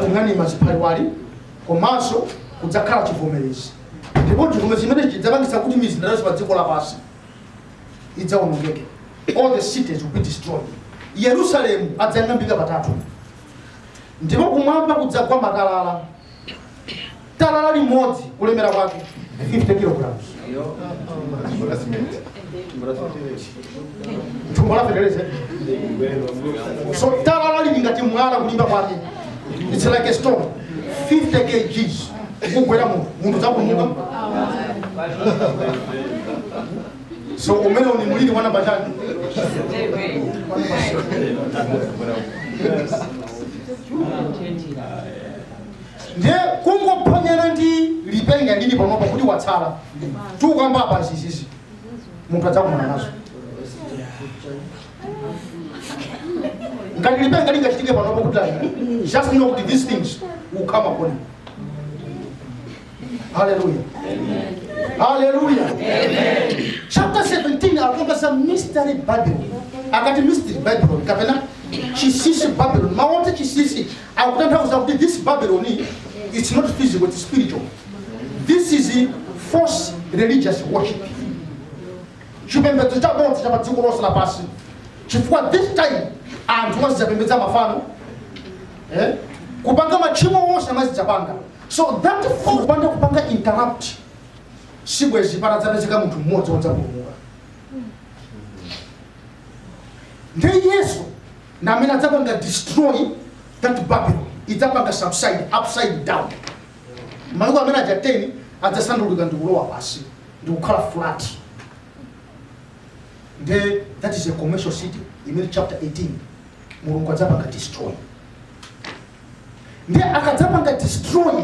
kung'anima ziphaliwali komanso kudzakhala chivomerezi ndipo chivomerezi chimene chidzapangitsa kuti mizinda yonse pa dziko lapansi idzaonongeke all the cities will be destroyed yerusalemu adzayang'ambika patatu ndipo kumwamba kudzagwa matalala talala limodzi kulemera kwake 50 kilograms thumbo la feteleza so talala lili ngati mwala kulimba kwake it's like a stone 50 kgs kugwera munthu munthu adzakomoka so umene uli muliri mwana batani ndiye kungophonyana ndi lipenga lili panopa kuti watsala tikukamba apa ndi zizi munthu adzakumana nazo ngati lipenga lingachitike panopa kuti ayi just know kuti these things will come upon you hallelujah hallelujah chapter 17 akamba za mystery Babylon akati mystery Babylon kapena chinsinsi Babylon mawu oti chinsinsi akutanthauza kuti this babylon it's not physical it's spiritual this is false religious worship chipembedzo cha bodza cha padziko lonse lapansi chifukwa this time anthu azidzapembedza mafano eh? kupanga machimo onse azidzapanga so that false- kupanda kupanga interrupt sibwezi patadzapezeka munthu mmodzi wodzapulumuka ndiye yesu ndi amene adzapanga destroy that Babylon, idzapanga subside upside down. Malo amene aja 10 adzasandulika ndi kulowa pansi ndi kukhala flat. Nde that is a commercial city imene chapter 18 Mulungu adzapanga destroy. Nde akadzapanga destroy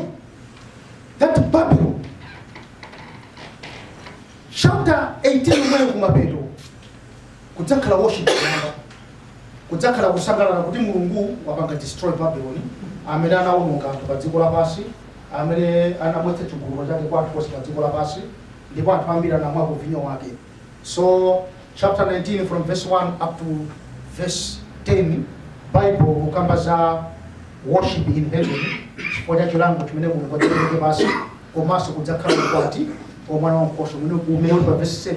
that Babylon chapter 18 imeneyo kumapeto Kudzakhala worship kumwamba. Kudzakhala kusangalala kuti Mulungu wapanga destroy Babylon amene anawononga anthu pa dziko lapansi, amene anabwetsa chigololo chake kwa anthu onse pa dziko lapansi ndipo anthu ambiri anamwako vinyo wake. So chapter 19 from verse 1 up to verse 10 Bible ikukamba za worship in heaven chifukwa cha chilango chimene Mulungu adzapereke pansi komanso kudzakhala ukwati wa mwana wa nkhosa umene umene uli pa verse 7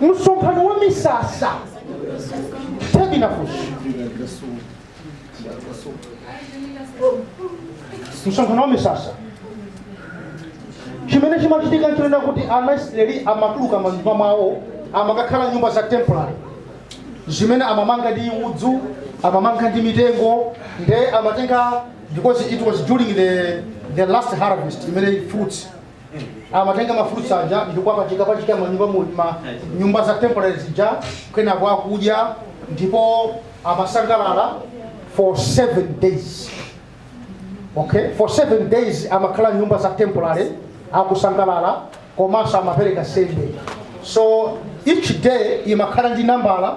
msonkhano wa misasa tabernacles msonkhano wa misasa chimene chimachitika nchonena kuti ana israeli amatuluka manyumba mwawo amakakhala nyumba za temporary zimene amamanga ndi udzu amamanga ndi mitengo nde amatenga because it was during the, the last harvest imene fruits amatenga mafruits aja ndipo amapachikapachika manyumba mu- ma nyumba za temporary zija kenako akudya ndipo amasangalala for seven days okay for seven days amakhala nyumba za temporary akusangalala komanso amapereka nsembe so each day imakhala ndi nambala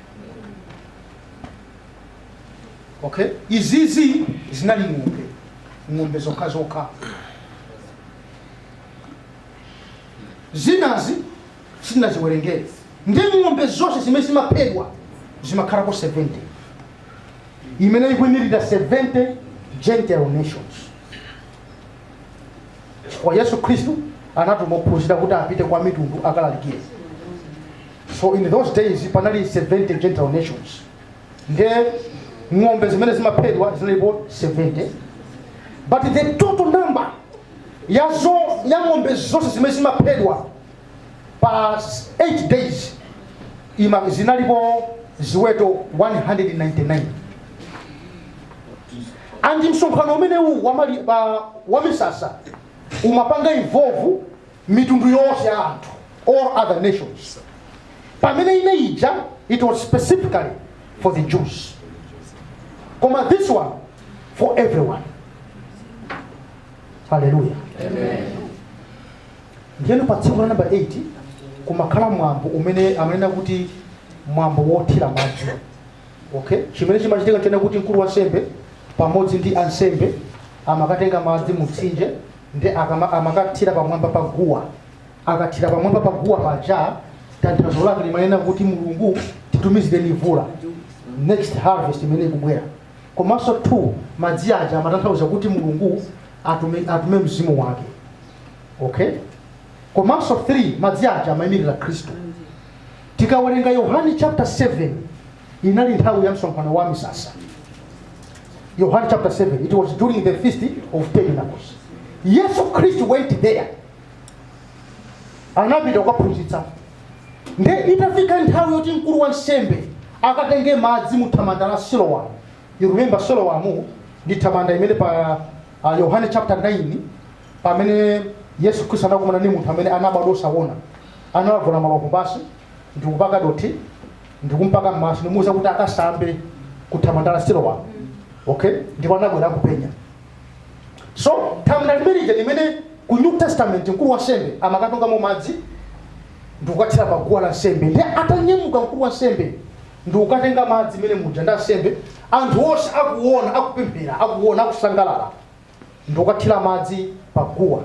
okay izizi zinali ng'ombe ng'ombe zokha zokha zinazi sinaziwerengere ndi ng'ombe zonse zimene zimaphedwa zimakhalako 70 imene ikuimirira 70 gentile nations kwa yesu khristu anatuma ophunzira kuti apite kwa mitundu akalalikire so in those days panali 70 gentile nations nde ng'ombe zimene zimaphedwa zinalipo 70 but the total number ya zo ya ng'ombe zonse zimene zimaphedwa pa 8 days ima zinalipo ziweto 199 and msonkhano umenewu wamali- wa- wamisasa umapanga involve mitundu yonse ya anthu all other nations pamene ina ija it was specifically for the jews koma this one for everyone haleluya ndiyeno pa tsiku la namba 8 kumakhala mwambo umene amanena kuti mwambo wothira madzi okay chimene chimachitika nchonena kuti mkulu wansembe pamodzi ndi ansembe amakatenga madzi mumtsinje nde akama amakathira pamwamba pa guwa akathira pamwamba pa guwa paja tanthauzo lake limanena kuti mulungu titumizireni mvula next harvest imene ikubwera komanso two madzi aja amatanthauza kuti mulungu atume, atume mzimu wake okay komanso three madzi aja amayimirira khristu tikawerenga yohane chapter 7 inali nthawi ya msonkhano wa misasa yohane chapter 7 it was during the feast of tabernacles yesu khristu went there anapita kukaphunzitsa nde itafika nthawi yoti mkulu wa nsembe akatenge madzi mu thamanda la silowamu you remember silowamu ndi thamanda imene pa uh, yohane chapter 9 pamene yesu khristu anakumana ndi munthu amene anabadwa osaona analavula malovu pansi ndikupaka dothi ndikumpaka m'maso ndimuuza kuti akasambe ku thamanda la silowa okay ndipo anabwera akupenya so thamanda limenija limene ku new testament mkulu wa nsembe amakatungamo madzi ndikukathira pa guwa la nsembe ndiye atanyamuka mkulu wa nsembe ndikukatunga madzi mene muja ndi ansembe anthu onse akuona akupemphera akuona akusangalala ndikukathira madzi pa guwa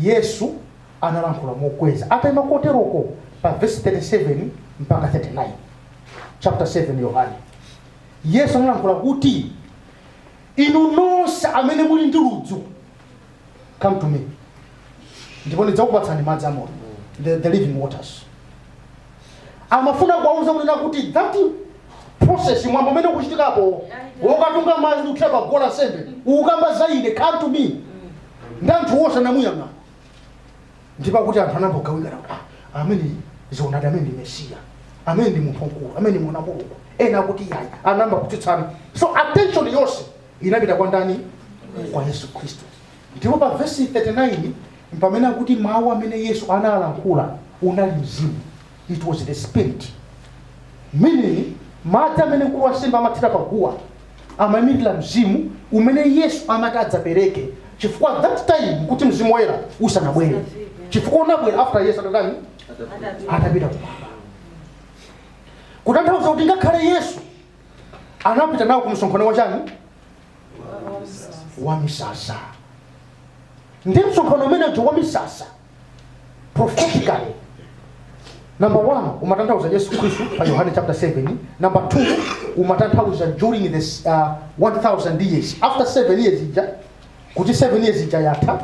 yesu analankhula mokweza ataima koteroko pa vesi 37 mpaka 39 chapter 7 yohane yesu analankhula kuti inu nonse amene muli ndi ludzu come to me ndipo ndidzakupatsani madzi amoyo the, the living waters amafuna kuwauza kunena kuti that process mwambo umene ukuchitika apo wokatunga madzi ndi kuthira pa guwa la nsembe ukukamba za ine come to me ndi anthu onse anamuyang'ana ndipo akuti anthu anangogawikana kuti "Ah, ameneyu zoonadi ameneyu ndi mesiya ameneyu ndi munthu wamkulu ameneyu ndi mwana wa mulungu ena akuti yayi anayamba kutsutsana so attention yonse inapita kwa ndani kwa yesu khristu Ndipo pa vesi 39 mpamene akuti mawu amene Yesu analankhula unali mzimu. It was the spirit. Meaning madzi amene mkulu wansembe amathira pa guwa amayimirira mzimu umene Yesu amati adzapereke chifukwa at that time kuti mzimu woyera usanabwere chifukwa unabwera after Yesu atatani atapita kumwamba kutanthauza kuti ngakhale Yesu anapita nawo ku msonkhano wachani wa misasa ndiye msonkhano umenewo wa misasa prophetically number one umatanthauza yesu khristu pa yohane chapter 7 number two umatanthauza during this uh, 1000 years after 7 years ija kuti 7 years ija yatha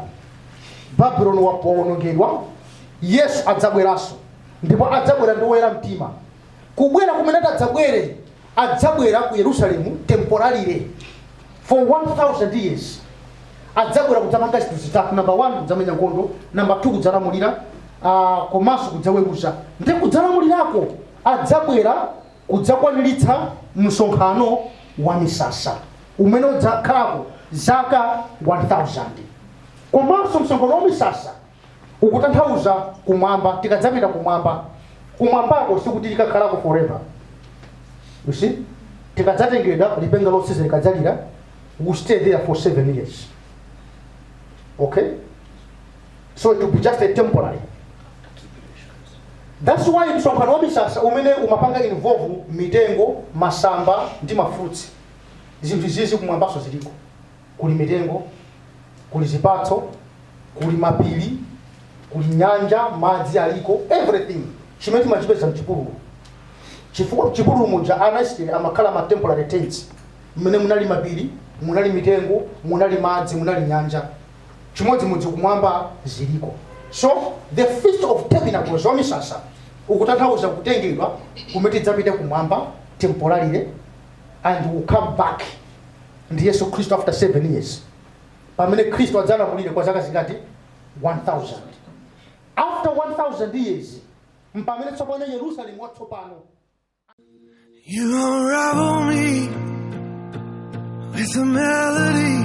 babuloni waphwanyidwa yesu adzabweranso ndipo adzabwera ndi woyera mtima kubwera kumene ati adzabwere adzabwera ku yerusalemu temporarily for 1000 years adzabwera kudzapanga zinthu zitatu namba 1 kudzamenya nkhondo namba 2 kudzalamulira uh, komanso kudzaweruza ndiye kudzalamulirako adzabwera kudzakwaniritsa msonkhano wa misasa umene udzakhalako zaka 1000 komanso msonkhano wa misasa ukutanthauza kumwamba tikadzapita kumwamba kumwambako sikuti tikakhalako forever you see tikadzatengedwa lipenga lotsiriza likadzalira we stay there for seven years okay so it will be just a temporary that's why msonkhano wa misasa umene umapanga involve mitengo masamba ndi mafruits zinthu izizi kumwambanso ziliko kuli mitengo, kuli zipatso, kuli mapiri, kuli nyanja, madzi aliko, everything chimene timachipeza mchipululu. Chifukwa mchipululu muja ana Israeli amakhala ma temporary tents, mmene munali mapiri, munali mitengo, munali madzi, munali nyanja, chimodzimodzi kumwamba ziliko. So the feast of tabernacles wa misasa ukutanthauza kutengedwa kumene tidzapite kumwamba temporarily and will come back ndi yesu khristu after 7 years pamene khristu adzalamulire kwa zaka zingati 1000 after 1000 years mpamene tsopano yerusalemu watsopano You unravel me with a melody.